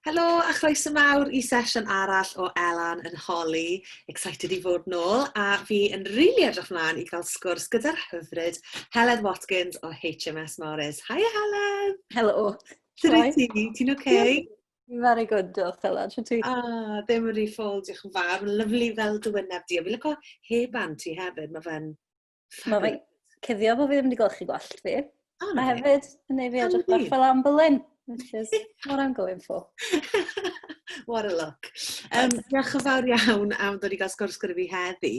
Helo a chroeso mawr i sesiwn arall o Elan yn Holi. Excited i fod nôl a fi yn rili really edrych mlaen i gael sgwrs gyda'r hyfryd Heledd Watkins o HMS Morris. Hi Heledd! Helo! Sut wyt ti? Ti'n oce? Okay? Very good, diolch Heledd. Sut ti? Ah, ddim yn rhi ffôl, diolch yn fawr. Lyflu fel dy wyneb di. A fi lyco heban ti hefyd, mae fe'n Mae fe cuddio bod fi ddim wedi gweld chi gwallt fi. Oh, Mae hefyd yn ei fi edrych bach fel ambolyn, which is what I'm going for. what a look. Um, diolch yn fawr iawn am ddod i gael sgwrs gyda fi heddi.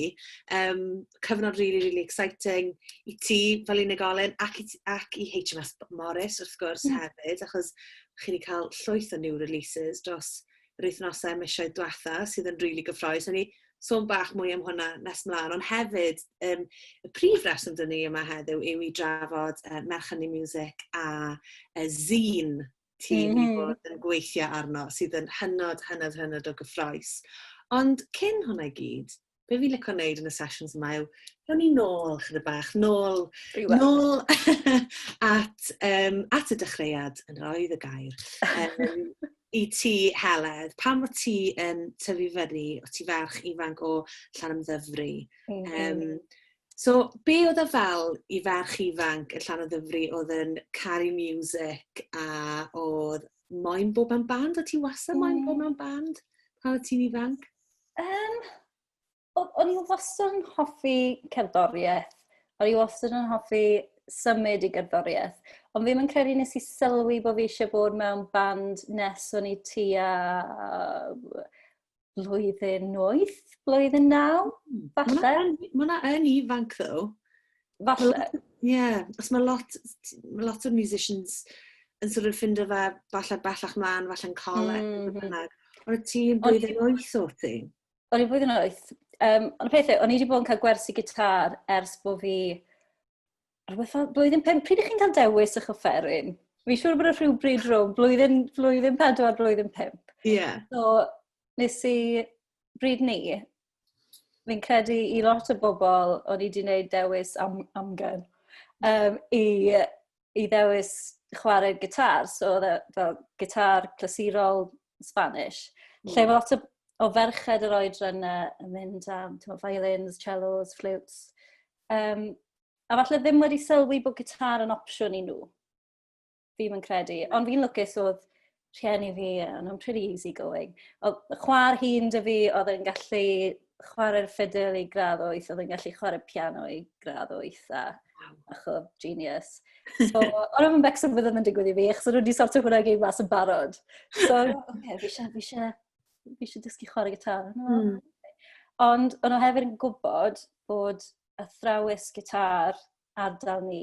Um, cyfnod really, really exciting i ti fel unigolyn ac i, ac i HMS Morris wrth gwrs mm. hefyd, achos chi wedi cael llwyth o new releases dros yr wythnosau, misoedd diwetha sydd yn rili gyffrous. O'n i sôn bach mwy am hwnna nes mlaen, ond hefyd um, y prif reswm dyn ni yma heddiw yw i drafod uh, Merchannu Music a uh, Zine ti'n mm -hmm. bod yn gweithio arno sydd yn hynod, hynod, hynod o gyffroes. Ond cyn hwnna i gyd, be fi'n licio wneud yn y sessions yma yw, rhan ni nôl, chyda bach, nôl, Rhywbeth. nôl at, um, at y dechreuad yn roedd y gair. Um, I ti, Heledd, pan o ti yn tyfu fyny, o ti ferch ifanc o llan ymddyfru. Mm -hmm. um, so, be oedd y fel i ferch ifanc y llan ymddyfru oedd yn caru music a oedd moyn bob am band? O ti wasau moyn mm. bob am band pan o ti'n ifanc? Yym, o- o'n i wastad yn hoffi cerddoriaeth. O'n i wastad yn hoffi symud i gerddoriaeth. Ond fi'm yn credu nes i sylwi bo' fi isie bod mewn band nes o'n i tua blwyddyn wyth, blwyddyn naw, falle. Ma' hwnna yn ifanc ddo. Falle. Ie, achos ma' lot t- t- ma' lot o musicians yn sor' of ffindo fe falle bellach mlan falle'n coleg... Hmm hmm. ...beth bynnag. On' y ti yn blwyddyn wyth o't ti? O'n i flwyddyn wyth. Yym on' y peth yw o'n i 'di bod yn ca'l gwersi gitâr ers bo' fi rwbeth fel blwyddyn pump. Pryd 'ych chi'n ca'l dewis 'ych offeryn? Fi'n siŵr bod o rhywbryd rownd blwyddyn blwyddyn pedwar blwyddyn pump. Ie. So nes i bryd 'ny fi'n credu i lot o bobl, o'n i wedi gwneud dewis am, amgen, um, i, i ddewis chwarae gitar. So oedd e fel gitar clasurol Spanish. Mm. Lle mae lot o, o ferched yr oedran yna yn mynd am tyma, violins, cellos, flutes. Um, a falle ddim wedi sylwi bod gitar yn opsiwn i nhw. fi'n yn credu. Ond fi'n lwcus oedd rhieni fi, ond nhw'n pretty easy going. Oedd chwar hi'n dy fi, oedd yn gallu chwarae'r ffidil i gradd oeth, oedd yn gallu chwarae piano i gradd oeth, a bach o genius. So, ond oedd yn becso bydd ddim yn digwydd i fi, achos oedd nhw wedi sortio hwnna gyd mas yn barod. So, okay, fi eisiau, fi eisiau, fi eisiau dysgu chwarae gitar. Mm. Ond, ond nhw hefyd yn gwybod bod athrawes gitar ardal ni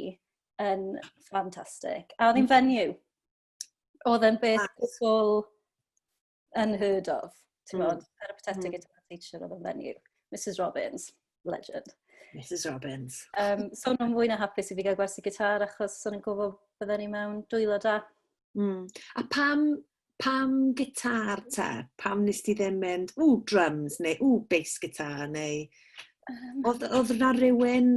yn ffantastig. A oedd hi'n venue. Oedd e'n beth gwbl unheard of. Ti'n mm. bod, peripatetic mm. guitar teacher oedd e'n venue. Mrs Robbins, legend. Mrs Robbins. Um, so nhw'n fwy na hapus i fi gael gwersi gitar achos so nhw'n gwybod bydden ni mewn dwylo da. Mm. A pam, pam gitar te? Pam nes ti ddim mynd, ww, drums neu ww, bass gitar neu... Um, oedd, oedd na rhywun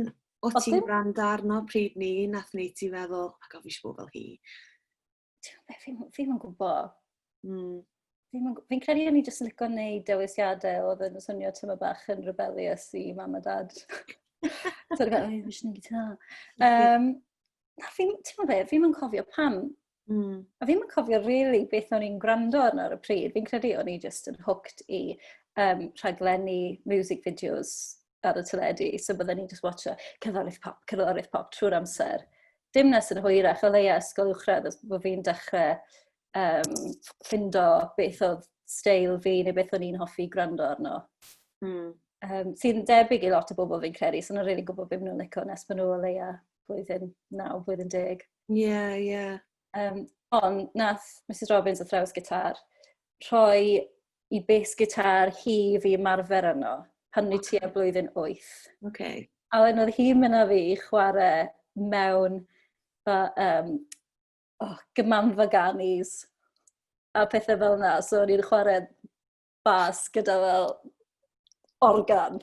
O ti'n gwrando arno pryd ni, nath ni ti feddwl, oh my god, fi eisiau bod fel hi. Fi'n fi yn gwybod. Mm. Fi'n credu o'n i jyst yn licio gwneud dewisiadau oedd yn swnio tyma bach yn rebellious i mam a dad. Sorry, fel, oh, fi eisiau gwneud gitar. Um, na, fi'n, ti'n fe, fi'n cofio pam. Mm. A fi'n cofio rili really beth o'n i'n gwrando arno ar y pryd. Fi'n credu o'n i just yn hooked i um, rhaglenni music videos ar y teledu. So byddwn i'n just watcho cyfarwydd pop, cyfarwydd pop trwy'r amser. Dim nes yn hwyrach, o leia ysgol uwchradd, os bod fi'n dechrau um, ffindo beth oedd stael fi neu beth o'n i'n hoffi gwrando arno. Mm. Um, sy'n debyg i lot o bobl fi'n credu, sy'n so rili really gwybod beth nhw'n licio nes maen nhw o leia blwyddyn 9, blwyddyn 10. Ie, yeah, ie. Yeah. Um, ond nath Mrs Robbins athrawes gitar rhoi i bes gitar hi fi marfer yno pan ni ti a blwyddyn 8. Okay. A wedyn oedd hi'n mynd â fi i chwarae mewn fa, um, oh, gymanfa ganis a pethau fel yna. So o'n i'n chwarae bas gyda fel organ.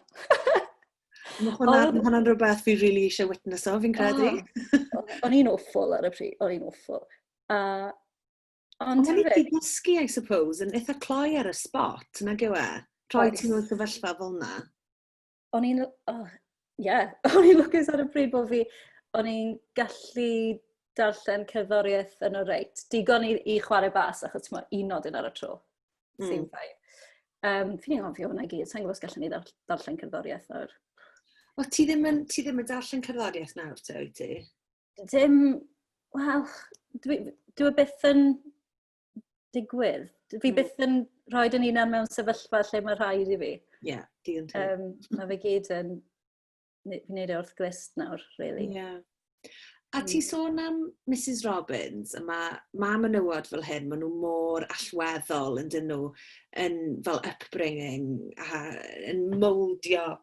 Mae hwnna'n hwnna rhywbeth fi rili really eisiau witness o, fi'n credu. Oh, o'n i'n awful ar y pryd, o'n i'n awful. Uh, ond ti'n fi... gysgu, I suppose, yn eitha cloi ar y spot, nag yw e? Troi ti'n nhw'n sefyllfa fel na. o'n i'n, oh, yeah, o'n i'n lwcus ar y pryd bod fi, o'n i'n gallu darllen cerddoriaeth yn y reit. Digon i, i chwarae bas, achos ti'n meddwl, un nodyn ar y tro. Mm. Sy'n ffain. Um, fi'n ei ofio hwnna gyd, sa'n gwybod os gallwn ni darllen cerddoriaeth nawr. O, ti ddim yn, ti ddim yn darllen cerddoriaeth nawr, te, wyt ti? Dim, wel, dwi, dwi e byth yn digwydd. Fi mm. byth yn rhoi dyn ni'n mewn sefyllfa lle mae rhaid i fi. Ie, yeah, di yn tŵr. Um, mae fe gyd yn wneud e wrth glist nawr, really. Ie. Yeah. A ti mm. sôn am Mrs Robbins, a mae ma menywod fel hyn, maen nhw mor allweddol yn dyn nhw, yn fel upbringing, a yn moldio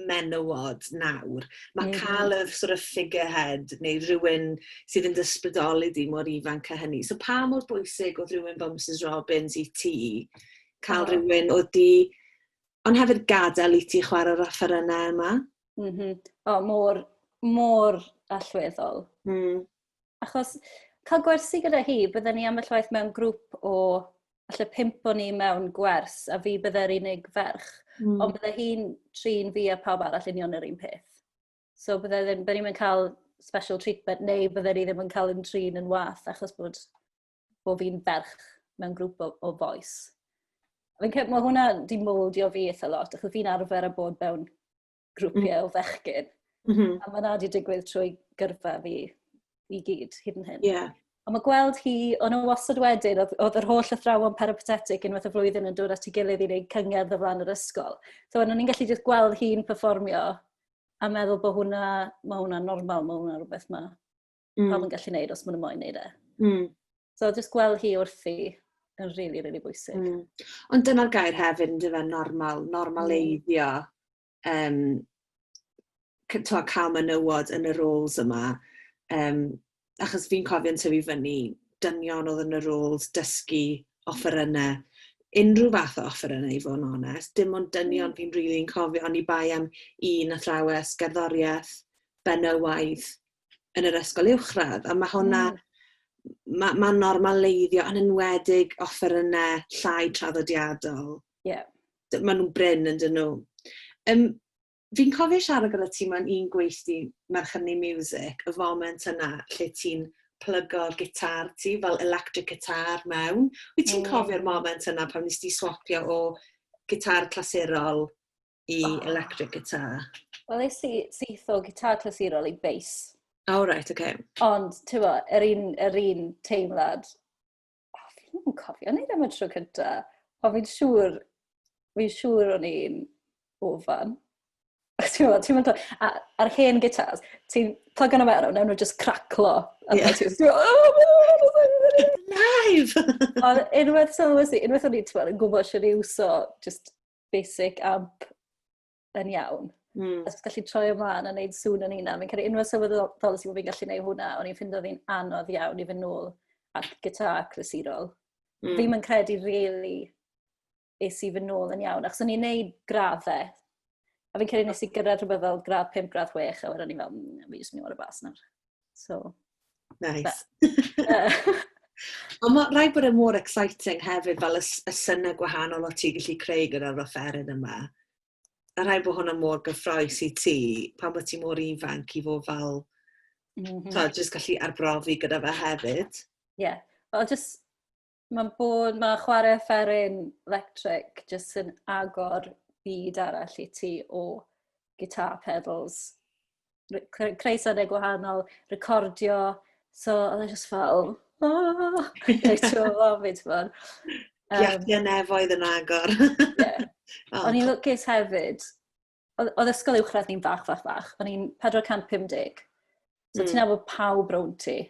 menywod nawr. Mae mm. cael y sort of figurehead neu rhywun sydd yn dysbrydoli di mor ifanc a hynny. So pa mor bwysig oedd rhywun fel Mrs Robbins i ti cael oh. rhywun oedd di, ond hefyd gadael i ti chwarae'r offerynnau yma? Mm -hmm. O, mor, mor allweddol. Mm. achos cael gwersi gyda hi, bydden ni ambell waith mewn grŵp o, allai pimp o'n ni mewn gwers, a fi bydde'r unig ferch, mm. ond bydde hi'n trin fi a pawb arall union yr un peth. So bydde ddim, bydde ni'n cael special treatment, neu bydde ni ddim yn cael yn trin yn wath, achos bod, bod fi'n ferch mewn grŵp o, o boes. Fi'n cael, mae hwnna di moldio fi eitha lot, achos fi'n arfer a bod mewn grwpiau mm. o fechgyn. Mm -hmm. A mae yna wedi digwydd trwy gyrfa fi i gyd hyd yn hyn. Yeah. Ond mae gweld hi, o'n o wastad wedyn, oedd, oedd yr holl athrawon peripatetic unwaith y flwyddyn yn dod at ei gilydd i wneud cyngerdd o flaen yr ysgol. So, o'n i'n gallu just gweld hi'n performio a meddwl bod hwnna, mae hwnna normal, mae hwnna rhywbeth mae mm. pawb yn gallu gwneud os maen nhw'n moyn gwneud e. Mm. So, jyst gweld hi wrthi yn rili, really, rili really bwysig. Mm. Ond dyna'r gair hefyd yn dyfa normal, normaleiddio um, to, cael menywod yn y roles yma. Um, achos fi'n cofio'n tyfu fyny, dynion oedd yn y roles, dysgu, offeryna, unrhyw fath o offeryna i fod yn onest. Dim ond dynion mm. fi'n rili'n really cofio, ond i bai am un athrawes, gerddoriaeth, benywaidd, yn yr ysgol uwchradd a ma' hwnna... Hmm. ...ma' ma'n normaleiddio yn enwedig offeryne llai traddodiadol. Ie. D- ma' nw'n brin ynddyn nhw. Yym fi'n cofio siarad gyda ti mewn un gweithdy Merch Hynny Music, y foment yna lle ti'n plygo'r gitar ti fel electric guitar mewn. Wyt ti'n mm. cofio'r moment yna pan nes ti swapio o gitar clasurol i electric guitar. Wel, nes i syth o guitar clasurol i bass. Oh, right, okay. Ond, ti'n bo, yr un, yr un teimlad, oh, fi ddim yn cofio neud am y tro cynta, ond fi'n siŵr, fi'n siŵr o'n i'n ofan. Ti'n bo, ti'n bo, a'r hen gitars, ti'n plug yna mewn, newn nhw just craclo. Yeah. Ti'n bo, live! Ond unwaith sylwys i, unwaith o'n i'n gwybod sy'n ei wso, just basic amp yn iawn. Mm. Os gallu troi ymlaen a wneud sŵn yn unan, fi'n credu unwaith sylweddol sy'n bod fi'n gallu gwneud hwnna, o'n i'n ffindo fi'n anodd iawn i fy nôl at gitar clasurol. Mm. Fi'n yn credu really es i fy nôl yn iawn, achos o'n i'n neud graddau, a fi'n credu nes i gyrraedd rhywbeth fel gradd 5, gradd 6, a wedyn o'n i'n fel, mm, fi jyst mynd i fod y bas nawr. So, nice. Ond mae rhaid bod yn e mor exciting hefyd fel y, y syna gwahanol o ti gallu creu gyda'r offeryn yma. A rhaid bod hwnna mor gyffroes i ti pan bod ti mor ifanc i fod fel... Mm -hmm. Tod, jyst gallu arbrofi gyda fe hefyd. Ie. Yeah. Wel, jyst mae'n bod, mae chwarae fferin electric jyst yn agor byd arall i ti o guitar pedals, creu sonau gwahanol, recordio, so oedd e jyst fel, oh, reit o lof i, ti'n bod. Um, Giathia nefoedd yn agor. yeah. oh, O'n i'n lwcus hefyd, oedd ysgol uwchradd ni'n fach, fach, fach. O'n i'n 450. So mm. ti'n hmm. nabod pawb rown ti.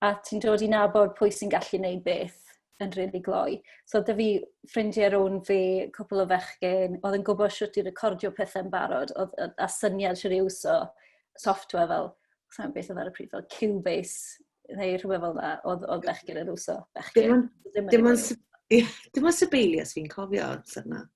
A ti'n dod i nabod pwy sy'n gallu neud beth yn rili really gloi. So dy fi ffrindiau rown fi, cwpl o fechgyn, oedd yn gwybod sut i recordio pethau'n barod, oedd, a syniad sut i uso software fel, sa'n beth oedd ar y pryd, fel Cubase, neu rhywbeth fel yna, oedd, oedd bechgyn yn uso. Bechgyn. Dim ond Dim ond Sibelius fi'n cofio amser yna.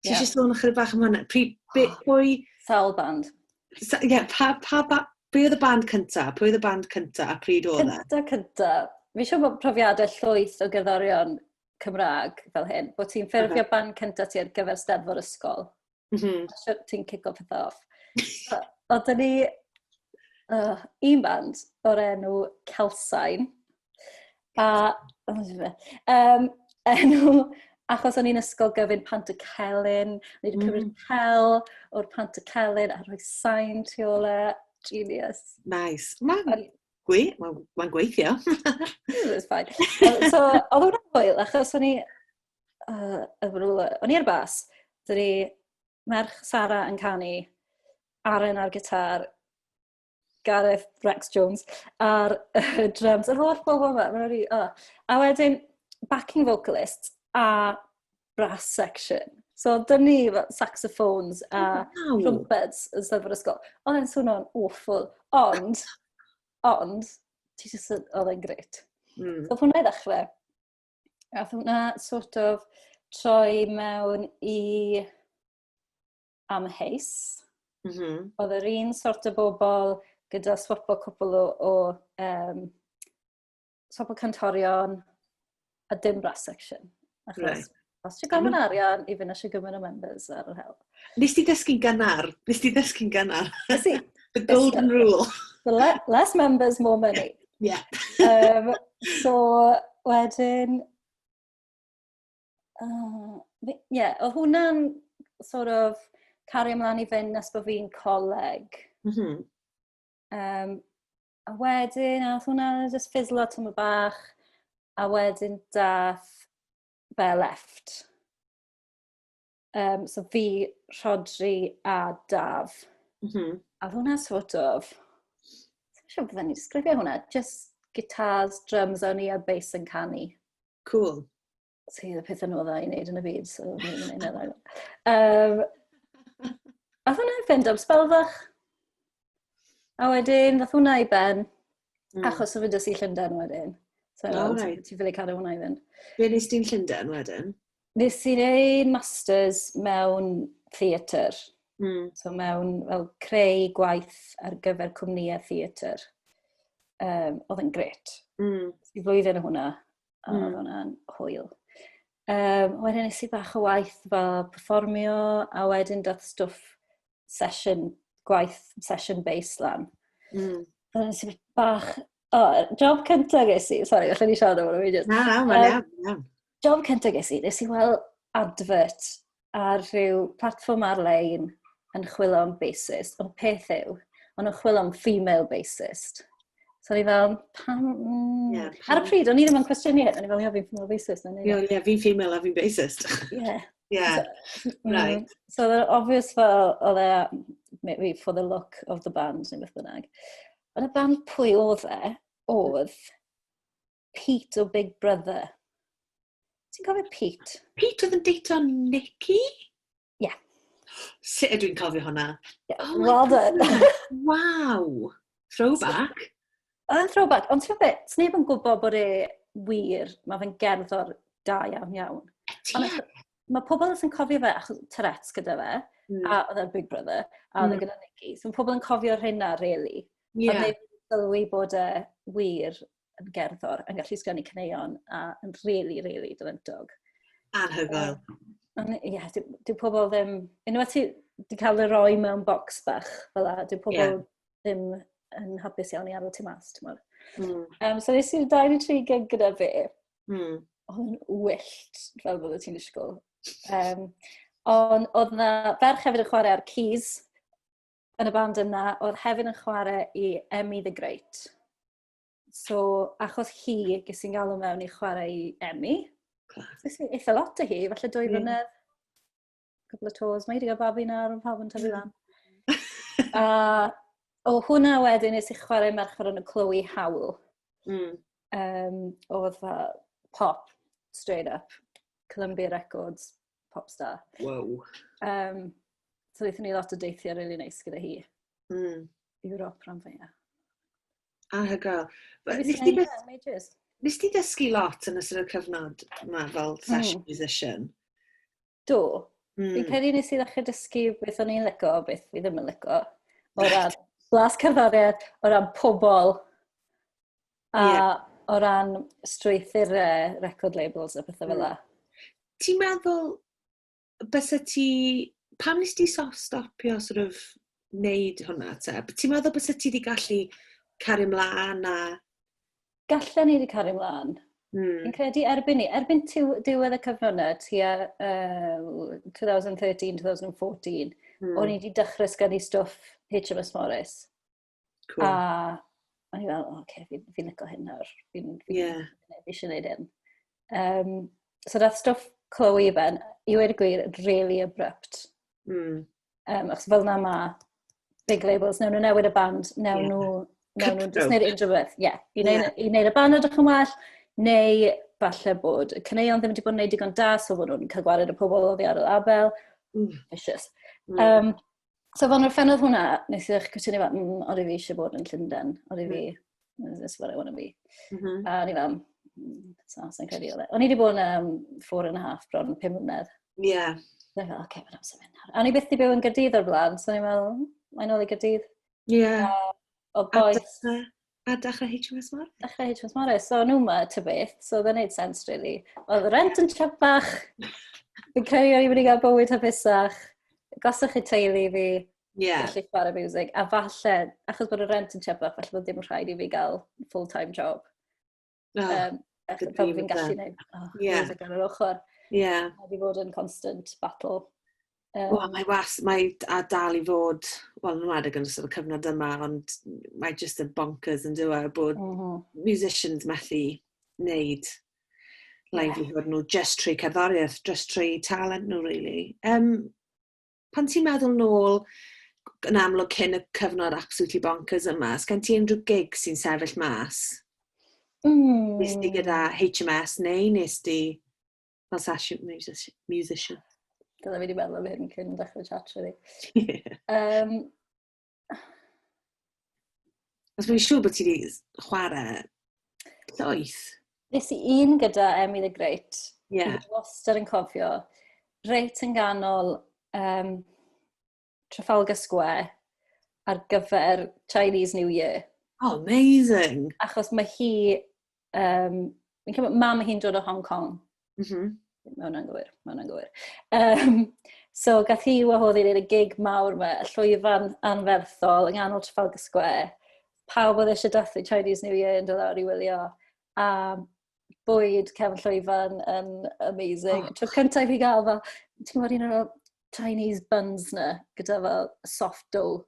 Ti yeah. eisiau sôn ychydig bach am hwnna? Pri, be, pwy... Sawl band. Sa, yeah, pa, pa, pa, pwy oedd y band cynta? Pwy oedd y band cynta a pryd oedd e? Cynta, cynta. Fi siw bod profiadau llwyth o gerddorion Cymraeg fel hyn, bod ti'n ffurfio uh -huh. band cynta ti ar gyfer steddfod ysgol. Mm -hmm. Ti'n cico pethau off. Oedd ni uh, un band o'r enw Celsain. A, um, enw, achos o'n i'n ysgol gyfyn pant y celyn, o'n i'n cymryd mm. cel o'r pant y celyn a rhoi sain tu ôl e. Genius. Nice. Mae'n gwe, ma, ma gweithio. It was fine. so, oedd hwnna'n hwyl, achos o'n i, uh, o'n i ar bas, dyna merch Sara yn canu, Aren ar gitar, Gareth Rex Jones ar y drums. Yr holl bobl yma, mae'n rhi... Oh. A wedyn, backing vocalist a brass section. So, dyn ni fel saxophones a wow. trumpets yn sef yr ysgol. Oedd e'n swnio'n awful. Ond, ond, ti jyst yn, oedd e'n gret. Mm. So, hwnna i ddechrau. A hwnna sort of troi mewn i amheus. Mm -hmm. Oedd yr un sort o bobl gyda swap o cwpl o, o um, swap o cantorion a dim brass section. Achos right. os ti'n gofyn arian i fynd eisiau gymryd y members ar yr hel. Nes ti ddysgu'n gynnar? Nes ti ddysgu'n gynnar? Nes i. The golden rule. The le less members, more money. Yeah. um, so, wedyn, Uh, yeah, o hwnna'n sort of cario ymlaen i fynd nes bod fi'n coleg. Mm -hmm. um, a wedyn, a hwnna just fizzlo tyn y bach, a wedyn dath be left. Um, so fi, Rhodri a Daf. Mm -hmm. A hwnna sort of... Dwi'n siŵr bydden ni'n sgrifio hwnna. Just guitars, drums, o'n i a bass yn canu. Cool. So oedd y pethau nhw dda i wneud yn y byd, so ni'n mynd yna. Um, a hwnna, fynd am spel fach. A wedyn, ddoth hwnna i ben. Mm. Achos o fynd i Llundain wedyn. So, oh, right. ti'n ffili cadw hwnna i fynd. Be nes ti'n Llundain wedyn? Nes i'n ei masters mewn theatr. Mm. So mewn fel creu gwaith ar gyfer cwmnïau theatr. Um, oedd yn gret. Mm. I flwyddyn o hwnna, a mm. oedd hwnna'n hwyl. Um, wedyn nes i bach o waith fel performio, a wedyn dath stwff sesiwn gwaith, sesiwn baseline. Mm. Ond nes i bach... O, oh, job cyntaf ges i, sori, allan ni siarad am hwnna. Na, na, mae'n iawn, iawn. Job cyntaf ges i, nes i weld advert ar rhyw platform ar-lein yn chwilio am bassist, ond peth yw, ond yn chwilio am female bassist. So ni fel, pam... Mm. Yeah, pam... Ar y pryd, o'n i ddim yn cwestiynu hyn, o'n i fel, yeah, fi'n female racist. Ie, yeah, yeah, fi'n female a fi'n racist. Ie. Yeah. So, mm, right. So they're obvious fel, oedd e, maybe for the look of the band, neu beth bynnag. Ond y band pwy oedd e, oedd Pete o Big Brother. Ti'n cofio Pete? Pete oedd yn deito Nicky? Ie. Yeah. Sut ydw i'n cofio hwnna? Yeah. Oh well done. wow! Throwback. Oedd yn throwback, ond ti'n beth, ti'n neb yn gwybod bod e wir, mae fe'n gerddor da iawn iawn. Mae pobl yn cofio fe achos Tourette's gyda fe, mm. a oedd e'n Big Brother, a oedd e mm. gyda Nicky. So mae pobl yn cofio rhywun rheina, really. Yeah. Ond neb yn sylwi bod e wir yn gerddor, yn gallu sgynnu cyneuon, a yn really, really dyfyntog. Anhygoel. Um, ie, yeah, dyw dy pobl ddim... Unwaith ti wedi cael ei roi mewn bocs bach, fel a, dyw pobl yeah. ddim yn hapus iawn i arw ti mas, ti'n mwyn. Mm. Um, so nes i'r 23 gig gyda fi. Mm. Oedd yn wyllt, fel bod ti'n ysgol. Um, ond oedd na ferch hefyd yn chwarae ar keys yn y band yna, oedd hefyd yn chwarae i Emmy the Great. So, achos hi, ges i'n galw mewn i chwarae i Emmy. Ges i eitha lot o hi, falle dwy flynedd. Cwbl o tos. Mae hi wedi cael babi nawr, mae pawb yn tyfu lan. A o hwnna wedyn nes i chwarae merch ar y Chloe Howl. Mm. Um, oedd pop, straight up, Columbia Records. pop star. Wow. Um, so ddeithon ni lot o deithiau rili really neis gyda hi. Mm. Europe rhan fwyaf. A hygal. Nes ti ddysgu lot yn ystod y cyfnod yma fel hmm. session mm. musician? Do. Mm. Fi'n credu nes i ddechrau dysgu beth o'n i'n lygo, beth fi ddim yn lygo. O ran blas cerddoriaeth, o ran pobl, A yeah. o ran strwythyr uh, record labels a pethau fel la. Ti'n meddwl, bys y ti, pam nes ti stopio sort of wneud hwnna te? Ti'n meddwl bys y ti wedi gallu cario mlaen a... Gallen ni wedi cario mlaen. Mm. Fi'n credu erbyn ni, erbyn diwedd y cyfnod yna, tua uh, 2013-2014, mm. o'n i wedi dechrau sgynnu stwff HMS Morris. Cool. A o'n i fel, oce, okay, fi'n fi licio hyn nawr. Fi'n fi, yeah. fi eisiau gwneud hyn. Um, so dath stwff Chloe i ben, i wedi gwir, really abrupt. Mm. Um, achos fel na ma, big labels, newn nhw newid y band, newn nhw, newn nhw, just neud unrhyw beth. Ie, i wneud y band ydych yn well, neu falle bod y cyneuon ddim wedi bod yn neud digon da, so bod nhw'n cael gwared y pobl o ddiarol abel. Mm. Vicious. Mm. Um, So fan fan oedd hwnna, nes i'ch cysynu fan, mm, oedd fi eisiau bod yn Llundain, oedd fi, mm. this is what I want to be. Mm -hmm. A ni fan, mm, so, sa'n credu oedd e. O'n i wedi bod yn um, four and a half bron pum mlynedd. Ie. Yeah. Dwi'n fel, oce, okay, mae'n amser mynd nawr. A ni byth i byw yn gydydd o'r blaen, so ni'n meddwl, mae'n ôl i gydydd. Ie. Yeah. O boes. A dechrau HMS Morris. Dechrau HMS Morris. So, nhw ma, ty beth. So, dda wneud sens, really. Oedd rent yn trapach. Fi'n credu o'n i'n mynd i gael bywyd hapusach. Gosach chi teulu fi. Yeah. Felly chwarae music. A falle, achos bod y rent yn trapach, falle bod ddim yn rhaid i fi gael full-time job. Oh, um, Fel fi'n gallu neud. Oh, yeah. Music ar yr ochr. Yeah. Mae wedi bod yn constant battle. Um, well, mae was, mae a dal i fod, wel, yn wedig yn ystod y cyfnod yma, ond mae just yn bonkers yn dweud e, bod mm -hmm. musicians methu wneud livelihood yeah. nhw just trwy cerddoriaeth, just trwy talent nhw, really. Um, Pan ti'n meddwl nôl yn amlwg cyn y cyfnod absolutely bonkers yma, os gen ti unrhyw gig sy'n sefyll mas? Mm. Nes di gyda HMS neu nes di fel session musician? Dyna fi wedi meddwl am hyn cyn dechrau chat, really. um, Os mae'n siŵr bod ti wedi chwarae llaeth. Nes i un gyda Emmy the Great. Ie. Yeah. Wastad yn cofio. Reit yn ganol um, Trafalgar Square ar gyfer Chinese New Year. Oh, amazing. Achos mae hi Um, fi'n cymryd, mam hi'n dod o Hong Kong. Mm -hmm. Mae hwnna'n gywir, mae hwnna'n gywir. Um, so, gath hi wahodd i'r gig mawr yma, y llwyfan anferthol yng nghanol Trafalgar Square. Pawb oedd eisiau dathlu Chinese New Year yn dod lawr i wylio. A bwyd cefn llwyfan yn amazing. Oh. Tro cyntaf i gael fel, ti'n gwybod un o'r Chinese buns na, gyda fel soft dough.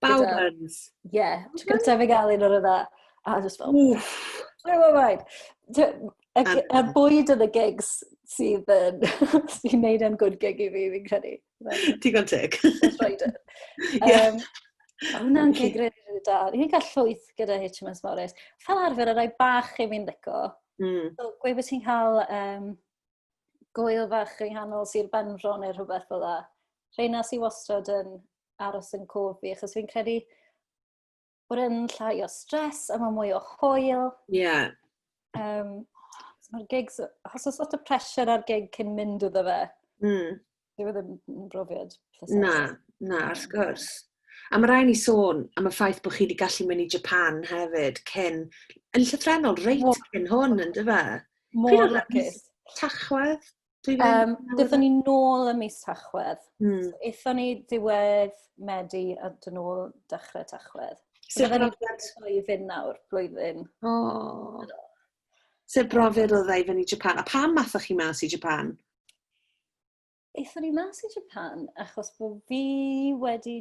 Bawb yn. Ie. Tro cyntaf i gael un o'r yna. A just fel... Wff. Blow my mind. Y bwyd yn y gigs sydd yn... sy'n neud yn good gig i fi, fi'n credu. Digon teg. That's right. Um, Mae hwnna'n gig rydyn da. Ni'n cael llwyth gyda HMS Morris. Fel arfer, y rai bach i fi'n ddico. Mm. So, gwe bod ti'n cael um, gwyl fach yng nghanol Sir Benfro neu rhywbeth fel dda. Rheina sy'n wastad yn aros yn cof fi, achos fi'n credu bod yn llai o stres a mae mwy o hwyl. Ie. Yeah. Um, so mae'r gigs, os oes lot o pressure ar gig cyn mynd iddo fe, mm. dwi ddim yn brofiad. Na, na, wrth gwrs. A mae rhaid ni sôn am y ffaith bod chi wedi gallu mynd i Japan hefyd, cyn, yn llythrenol, reit cyn hwn, yn dyfa. Mor lacus. Tachwedd. Dwi ddim... Um, Dython ni nôl y mis Tachwedd. Mm. Ethon ni diwedd Medi a dyn nhw dechrau Tachwedd. Sut brofiad? I fynd nawr, blwyddyn. Oh. Sut brofiad oedd ei fynd i Japan? A pam mathoch chi mas i Japan? Ethon ni mas i Japan achos bod fi wedi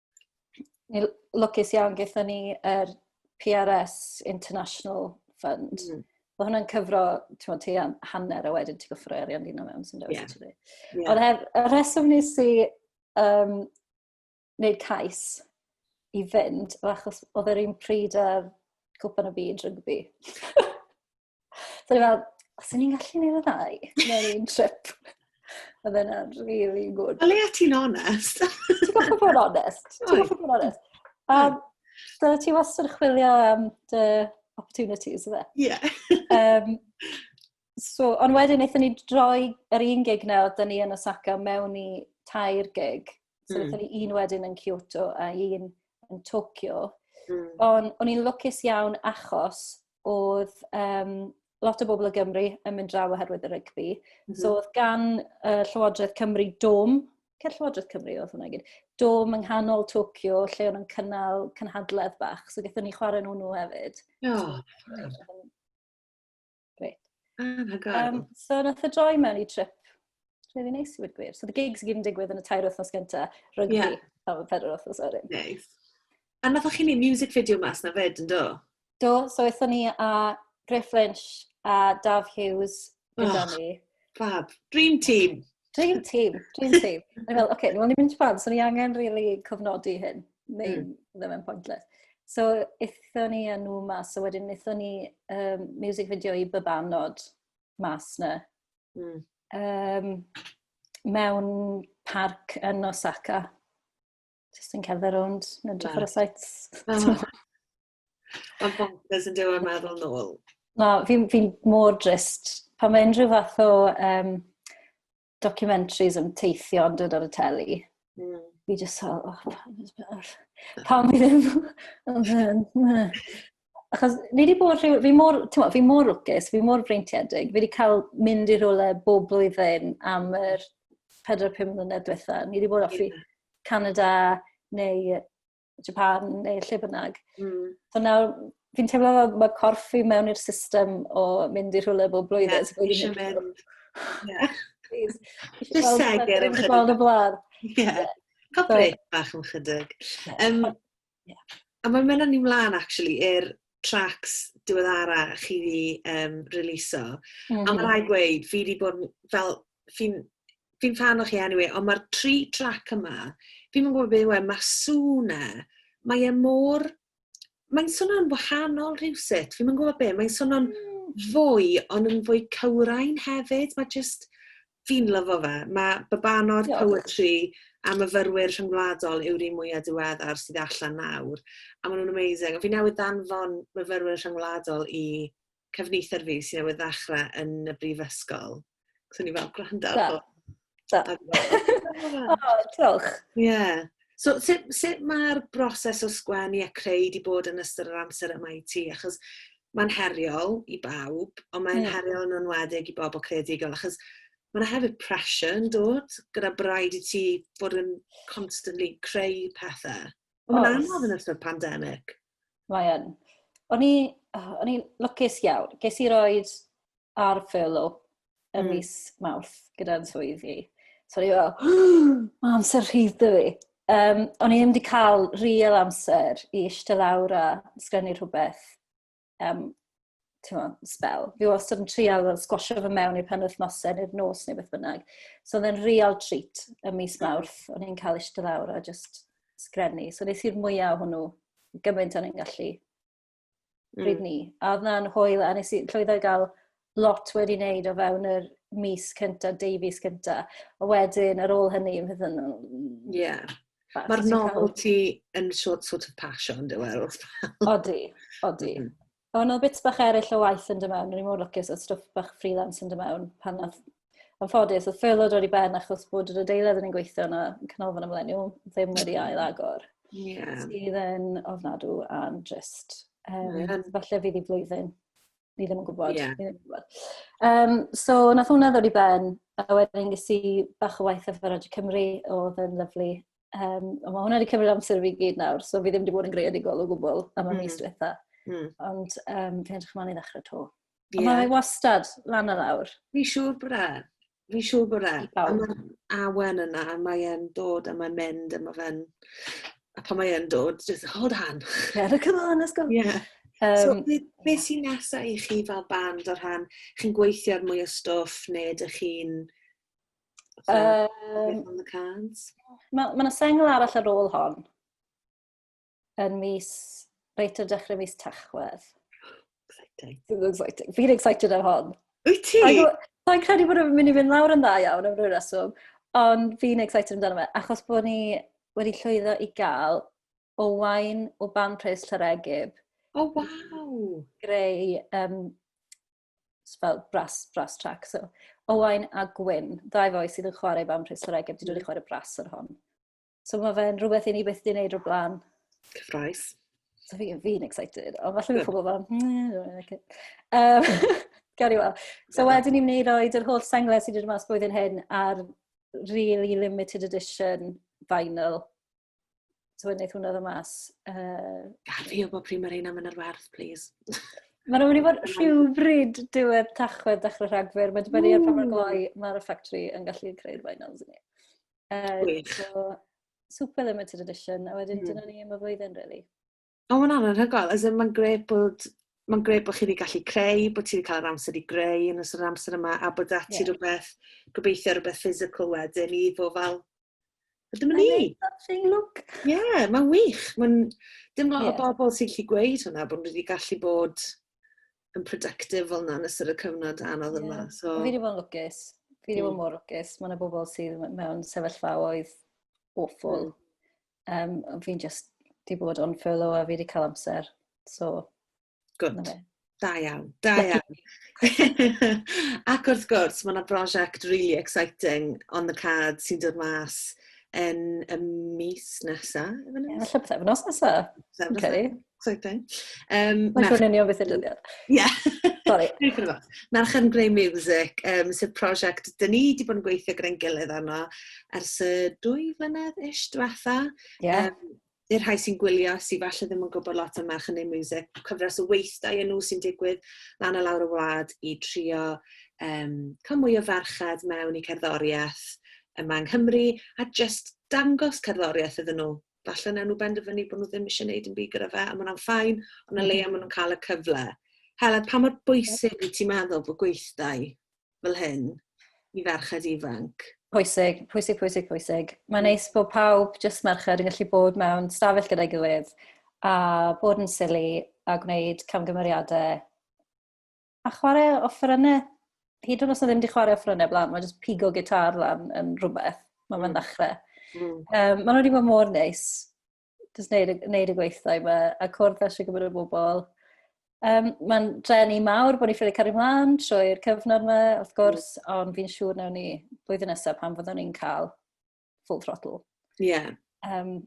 Ni lwcus iawn gyda ni yr er PRS International Fund. Mm. Mae hwnna'n cyfro, ti'n ti am hanner a wedyn ti'n gyffro arian dyn nhw mewn sy'n dewis yeah. ti. Yeah. Ond hef, y rheswm nes i um, wneud cais i fynd, achos oedd yr un pryd ar Cwpan y Byd rygbi. So ni fel, os ni'n gallu neud y ddau, mewn un trip. Oedd e'n really good. Wel, le ti'n onest? ti'n goffa bod onest? Ti'n goffa bod onest? Um, dyna ti wastad yn chwilio am dy opportunities, yna? Ie. Yeah. um, so, ond wedyn, eithon ni droi yr un gig na, oedden ni yn Osaka mewn i tair gig. So mm. ni un wedyn yn Kyoto a un yn Tokyo. Mm. Ond o'n i'n lwcus iawn achos oedd um, lot o bobl o Gymru yn mynd draw oherwydd y rygbi. Mm -hmm. So oedd gan uh, Llywodraeth Cymru dom, cer Llywodraeth Cymru oedd hwnna gyd, dom yng nghanol Tokyo lle o'n cynnal cynhadledd bach, so gyda ni chwarae nhw nhw hefyd. Oh. Great. Um, so nath y droi mewn i trip rili neis i fod gwir. So the gigs i gyd yn digwydd yn y tair wythnos gyntaf, rygbi, yeah. am y pedwar wythnos o'r un. Neis. A nath chi'n ei music video mas na fed yn do? Do, so eithon ni a Griff Lynch a Dav Hughes gyda oh, ni. Fab. Dream team. Dream team, dream team. O'n i'n meddwl, oce, okay, ni'n mynd i ffans, so ni angen really cofnodi hyn, neu mm. ddim yn pointless. So, eithon ni a nhw mas, so wedyn eithon ni um, music video i bybanod mas na. Mm. Um, mewn parc yn Osaka. Just yn cerdded rownd, yn edrych ar y sites. Mae'n bonkers yn dyw e meddwl nôl. Na, fi'n fi mor drist. Pan mae unrhyw fath o um, documentaries yn teithio yn dod ar y teli, mm. fi jyst fel, oh, pam fi ddim... Achos ni wedi bod rhyw... Fi mor, mo, fi mor lwcus, fi mor freintiedig. Fi wedi cael mynd i'r rhywle bob blwyddyn am yr 4-5 mlynedd diwetha. Ni wedi bod offi Canada neu Japan neu lle bynnag. Mm. So nawr, fi'n teimlo fel mae corff fi mewn i'r system o mynd i rhywle bob blwyddyn. Yeah, so eisiau mynd. Yeah. Please. Just segur yn chydig. Gweld y blaen. Yeah. Cael brec bach yn chydig. Um, yeah. A mae'n mynd ni mlaen, actually, i'r tracks diweddara chi fi um, releaso. Mm -hmm. A mae mhm. rhaid gweud, fi wedi bod fel fi'n fi fan o chi anyway, ond mae'r tri trac yma, fi'n yn gwybod beth yw e, mae'r sŵn e, mae e mor... Mae'n swnio'n wahanol rhywsut, fi'n yn gwybod beth, mae'n swnio'n hmm. fwy, ond yn fwy cywrain hefyd, mae just... Fi'n lyfo fe, mae babano'r poetry a myfyrwyr rhyngwladol yw'r un mwyaf diweddar sydd allan nawr, a maen nhw'n amazing. Fi newydd ddanfon myfyrwyr rhyngwladol i cefnither fi sy'n newydd ddechrau yn y brifysgol. Ac o'n i fel, gwrando. Da. Da. o, diolch. Ie. Yeah. So, sut, sut mae'r broses o sgwennu a creu di bod yn ystod yr amser yma i ti? Achos mae'n heriol i bawb, ond mae'n yeah. heriol yn enwedig i bobl creadigol, achos mae'n hefyd pressure yn dod gyda braid i ti fod yn constantly creu pethau. Ond mae'n anodd yn ystod pandemig. Mae yn. O'n i, oh, o'n i'n lwcus iawn. Ges i roed ar furlough y mm. mis mawrth gyda'n swydd i. So o'n i fel, mae amser rhydd dy fi. Um, o'n i ddim wedi cael real amser i eistedd lawr a sgrennu rhywbeth um, t'mod, sbel. Fi wastad yn trial fel sgwasio fe mewn i'r penwythnosau neu'r nos neu beth bynnag. So oedd e'n real treat ym mis mm. Mawrth. O'n i'n cael eistedd lawr a just sgrennu. So nes i'r mwyaf o hwnnw gymaint o'n i'n gallu mm. bryd ni. A oedd na'n hwyl a nes i llwyddo i gael lot wedi wneud o fewn yr mis cynta, deu fus cynta. A wedyn, ar ôl hynny, fe ddyn nhw... Ie. Mae'r novelty yn sort, sort of passion, dwi'n meddwl. Odi, odi. Mm-hmm. A o'n nhw bits bach eraill o waith yn dy mewn, o'n i mor lwcus oedd stwff bach freelance yn dy mewn pan oedd Yn ffodus, oedd ffyrlo dod i ben achos bod yr adeilad yn ein gweithio yna, canolfan ymleniu, ddim wedi ail agor. Yeah. Sydd yn ofnadw am just, um, yeah. falle fydd i flwyddyn. Ni ddim yn gwybod. Yeah. Ddim yn gwybod. Um, so, nath hwnna ddod i ben, a wedyn ges i bach o waith efo Radio Cymru, oedd yn lyflu. Um, ond mae hwnna wedi cymryd amser fi gyd nawr, so fi ddim wedi bod yn greadigol o gwbl am y mm. mis diwetha. Mm. Ond um, fi'n edrych ymlaen i ddechrau to. Yeah. Ond mae wastad lan ar awr. Fi siŵr bod e. Fi siŵr bod e. A mae'r awen yna, a mae'n dod, a mae'n mynd, a mae fe'n... A pan mae'n dod, just hold on. Yeah, look at on, let's go. Yeah. Um, so, be, be sy'n nesaf i chi fel band o'r rhan? Chi'n gweithio ar mwy o stwff neu ydych chi'n Um, on the cards. Mae ma yna sengl arall ar ôl hon. Yn mis, reit ar dechrau mis Tachwedd. Exciting. Fi'n excited. Fi'n excited am hon. Wyt ti? Sa'n credu bod yn mynd i fynd lawr yn dda iawn am rhyw reswm, ond fi'n excited amdano fe, achos bod ni wedi llwyddo i gael o wain o ban pres Llaregib. O, oh, waw! Greu um, fel brass, brass track. So, Owain a Gwyn, ddau foi sydd yn chwarae band Rhys yr Egeb, wedi dod i chwarae brass ar hon. So mae fe'n rhywbeth i ni byth di wneud o'r blaen. Cyffroes. So fi, fi'n excited, ond falle mae pobl fan, hmm, um, gael i weld. So wedyn ni'n wneud oed yr holl senglau sydd wedi dod mas blwyddyn hyn ar really limited edition vinyl Tywed, wneud hwnna ddo mas. Uh... Gaf fi o bob pryd mae rheina mynd ar werth, please. Mae'n mynd i fod rhywbryd diwedd tachwedd dechrau rhagfyr. Mae'n dibynnu ar pa mor gloi mae'r ffactri yn gallu creu'r finals i ni. Uh, so, super limited edition, a wedyn mm. dyna ni am y flwyddyn, really. O ma' wnna'n anhygoel as in ma'n grêt bod ma'n grêt bo' chi 'di gallu creu bo' ti 'di ca'l yr amser i greu yn ystod yr amser yma a bod 'da ti... Ie. ...rwbeth gobeithio rwbeth physical wedyn i fo' fel a dyma ni. I made something look. Ie ma'n wych ma'n dim lot... Ie. ...o bobol sy gallu gweud hwnna bo' nw 'di gallu bod yn productive fel 'na yn ystod y cyfnod anodd yma so... Ie. Fi 'di bod yn lwcus. Fi 'di bod mor lwcus ma' 'na bobol sydd m- mewn sefyllfaoedd awful. Um, fi'n just di bod on furlough a fi wedi cael amser. So, Good. Da iawn, da iawn. Ac wrth gwrs, mae yna brosiect really exciting on the card sy'n dod mas yn y mis nesaf. Efallai beth efnos nesaf. Efallai beth efnos nesaf. Exciting. Um, Mae'n siŵr yn beth y dyddiad. Ie. Sorry. Merch yn Grey Music, um, sydd prosiect dyn ni wedi bod yn gweithio gyda'n gilydd arno ers y dwy flynedd ish diwetha. Yeah. Um, i'r rhai sy'n gwylio sydd falle ddim yn gwybod lot am Merch yn Grey Music, cyfres o weithdau yn nhw sy'n digwydd lan a lawr y wlad i trio um, cael mwy o ferched mewn i cerddoriaeth yma yng Nghymru a just dangos cerddoriaeth iddyn nhw falle wnawn nhw benderfynu bod nhw ddim eisiau gwneud yn byd gyda fe, a maen ffain, ond na leia maen nhw'n cael y cyfle. Helen, pa mor bwysig wyt ti'n meddwl bod gweithdai fel hyn i ferched ifanc? Pwysig, pwysig, pwysig, pwysig. Mae'n neis bod pawb, jyst merched, yn gallu bod mewn stafell gyda'i gilydd a bod yn sili a gwneud camgymeriadau A chwarae offerynnau, hyd yn oes na ddim wedi chwarae offerynnau blaen, mae jyst pigo gitar lan yn rhywbeth. Mae fe'n mm. ddechrau. Mm. Um, mae nhw wedi bod mor neis. Just neud, neud y gweithdai yma, a cwrdd â siw gwybod y bobl. Um, Mae'n drenu mawr bod ni ffili cario mlaen trwy'r cyfnod yma, wrth mm. gwrs, mm. ond fi'n siŵr nawn ni blwyddyn nesaf pan fyddwn ni'n cael full throttle. Ie. Yeah. Um,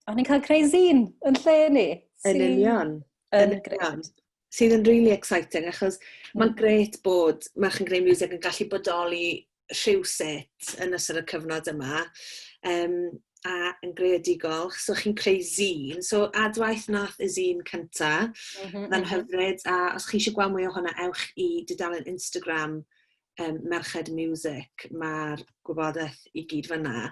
o'n i'n cael creu zine yn lle ni. Yn union. Yn union sydd yn really exciting achos mm. mae'n gret bod merch yn greu music yn gallu bodoli rhywset yn ystod y cyfnod yma um, a yn greadigol. So chi'n creu zine. So adwaith nath y zine cynta, mm -hmm, mm -hmm. hyfryd. A os chi eisiau gweld mwy o hwnna, ewch i dudalen Instagram um, merched music, mae'r gwybodaeth i gyd fyna.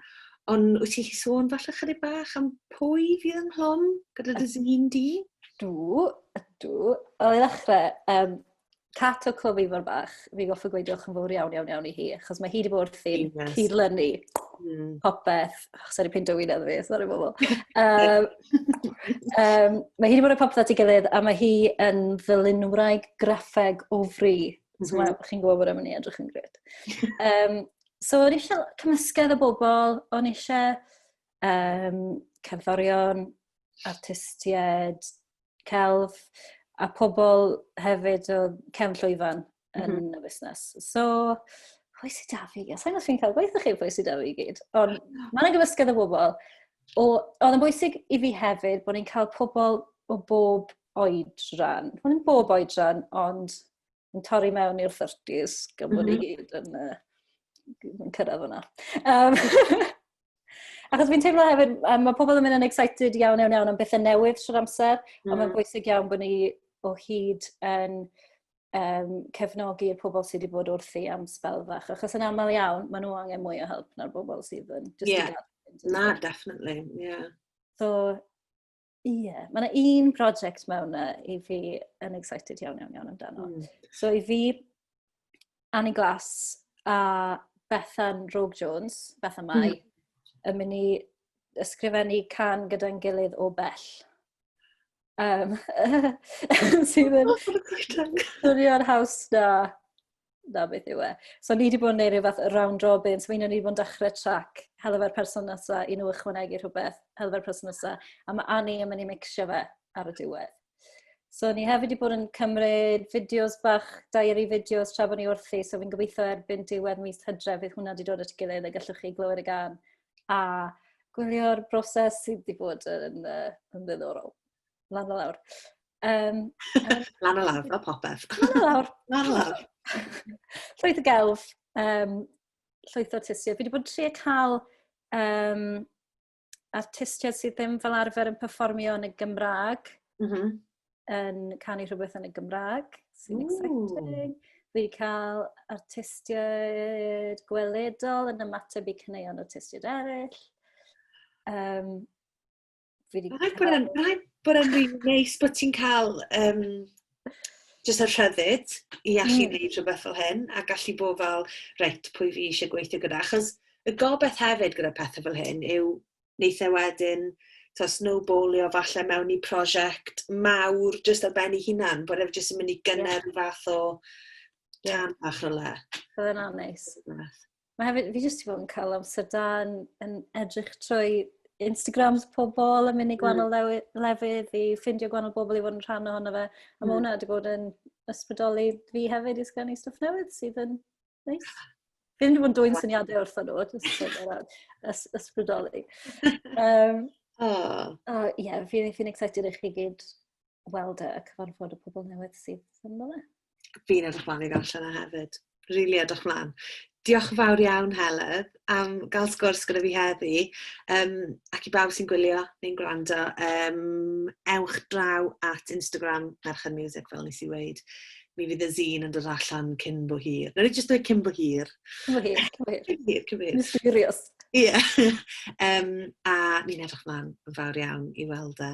Ond wyt ti sôn falle chydig bach am pwy fydd yn hlwm gyda dy zine di? Dw, ydw. O, i ddechrau, um, Cat o Cwm Ifor Bach, fi goffa gweud diolch yn fawr iawn, iawn, iawn i hi, achos mae hi wedi bod wrthi'n cyd-lynu mm. popeth. Oh, sori, pyn dywyn edrych fi, sori bobl. Um, um, mae hi wedi bod yn popeth at ei gilydd, a mae hi yn ddylunwraig graffeg o fri Mm -hmm. So, mhm. chi'n gwybod bod am ni edrych yn gred. um, so, o'n eisiau cymysgedd o bobl, o'n eisiau um, cerddorion, artistiaid, celf, a pobl hefyd o cefn llwyfan yn mm -hmm. y busnes. So, pwy sydd da fi? Sa'n gwybod chi'n cael gweithio chi pwy sydd da fi gyd. Ond mae yna gymysgedd o bobl. Oedd yn bwysig i fi hefyd bod ni'n cael pobl o bob oedran, hwn yn bob oedran, ond yn torri mewn i'r 30s, gan bod mm -hmm. i mhm. gyd yn, uh, yn cyrraedd hwnna. Um, Achos fi'n teimlo hefyd, um, mae pobl yn mynd yn excited iawn iawn iawn am bethau newydd trwy'r amser, mm. ond mae'n mm. bwysig iawn bod ni o hyd yn um, cefnogi y pobl sydd wedi bod wrthi am spel fach. Achos yn aml iawn, maen nhw angen mwy o help na'r bobl sydd yn... Just yeah. Na, definitely, yeah. So, Ie, yeah. mae yna un prosiect mewn uh, i fi yn excited iawn iawn iawn amdano. Mm. So i fi, Annie Glass a Bethan Rogue Jones, Bethan Mai, mm. yn mynd i ysgrifennu can gyda'n gilydd o bell. Um, sydd yn swnio'r haws na da beth yw e. So ni wedi bod yn neud rhyw fath round robin, so un o'n ni wedi bod yn dechrau trac helfa'r person nesa i nhw ychwanegu rhywbeth, helfa'r person nesa, a mae Annie yn mynd i mixio fe ar y diwedd. So ni hefyd wedi bod yn cymryd fideos bach, diary fideos tra bod ni wrthi, so fi'n gobeithio erbyn diwedd mis hydre fydd hwnna wedi dod at gilydd a gallwch chi glywed y gan a gwylio'r broses sydd wedi bod yn, uh, yn ddiddorol. lan a lawr. Um, lan a lawr, fel popeth. Lan a lawr. lan a lawr. llwyth y gelf, um, llwyth o artistiaid. Fi wedi bod yn trio cael um, artistiaid sydd ddim fel arfer yn performio yn y Gymraeg, mm -hmm. yn canu rhywbeth yn y Gymraeg, sy'n exciting. Fi wedi cael artistiaid gweledol yn ymateb i cyneuon artistiaid eraill. Um, Fi wedi... Rhaid bod e'n rhaid bod e'n rili neis bod ti'n cael um, jyst y rhyddid i allu mm. gwneud rhywbeth fel hyn a gallu bod fel, reit, pwy fi eisiau gweithio gyda. Achos y gobeith hefyd gyda pethau fel hyn yw wneud e wedyn to snowballio falle mewn i prosiect mawr jyst ar ben ei hunan, bod efe jyst yn mynd i gynnar yeah. fath o tan yeah. bach rhywle. Bydd yna'n neis. mae hefyd, fi jyst i fod yn cael amser da yn, yn edrych trwy Instagrams pobl yn mynd i gwahanol mm. lefydd i ffindio gwahanol bobl i fod yn rhan ohono fe. A mm. mae hwnna wedi bod yn ysbrydoli fi hefyd i sgynnu stwff newydd sydd yn neis. Fi ddim wedi bod yn dwy'n syniadau wrth nhw, jyst ysbrydoli. Um, oh. oh, yeah, fi'n fi excited i chi gyd weld y e, cyfarfod y pobl newydd sydd yn dda. Fi'n edrych mlaen i ddarllen e hefyd. Rili edrych mlaen. Diolch yn fawr iawn Helen am gael sgwrs gyda fi heddi um, ac i bawb sy'n gwylio neu'n gwrando, um, ewch draw at Instagram Merch and Music fel nes i weid. Mi fydd y zine yn dod allan cyn bo hir. Nawr i jyst dweud cyn bo hir. Cyn bo hir, cyn bo hir. Cyn bo hir, cyn bo hir. Mysterious. Ie. Yeah. um, a mi'n edrych mlaen yn fawr iawn i weld e.